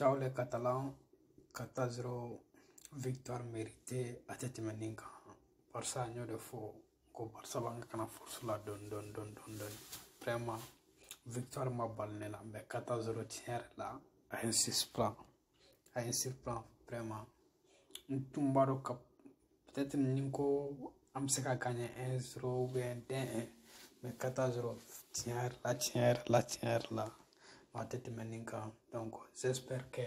Ciao les Catalans, 4-0 victoire méritée a tɛ tɛmɛ nin kan Barça n y'o de fɔ ko Barça b'a kan ka na force la dɔɔni dɔɔni dɔɔni dɔɔni dɔɔni vraiment victoire ma bali ne la mais 4-0 tiɲɛ yɛrɛ la a ye n surprend a ye n surprendre vraiment n tun b'a dɔn ka peut-être ni n ko an bɛ se ka gagner un zero ou bien deux un mais quatre zero tiɲɛ yɛrɛ la tiɲɛ yɛrɛ la tiɲɛ yɛrɛ la a tɛ tɛmɛ nin kan donc j'espère que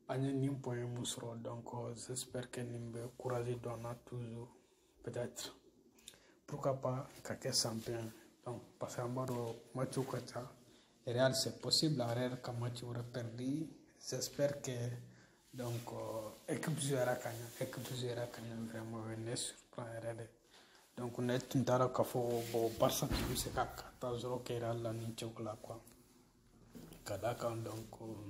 an ye nin point mun sɔrɔ donc j'espère que nin bɛ courage don an na toujours peut-être pourquoi pas ka kɛ champion donc parce que an b'a dɔn matchw ka ca real c'est possible a yɛrɛ ka match wɛrɛ perdu j'espère que donc euh, équipe jouera ka ɲa équipe jouera ka ɲa vraiment o ye ne surprend yɛrɛ de donc ne tun t'a dɔn k'a fɔ bon barça tun bɛ se ka quatre zero kɛ real la nin cogo la quoi ka d'a kan donc euh,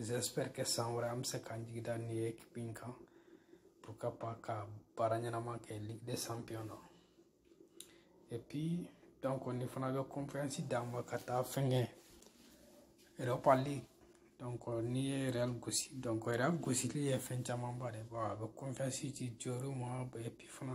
j'espère que san wɛrɛ an bɛ se k'an jigi da nin ekipi in kan pourquoi pas ka baara ɲɛnama kɛ ligue des champions na et puis donc nin fana bɛ confiance d'an ma ka taa fɛnkɛ europa league donc n'i ye real gosi donc real gosili ye fɛn camanba de bɔ a bɛ confiance di joueurw ma et puis fana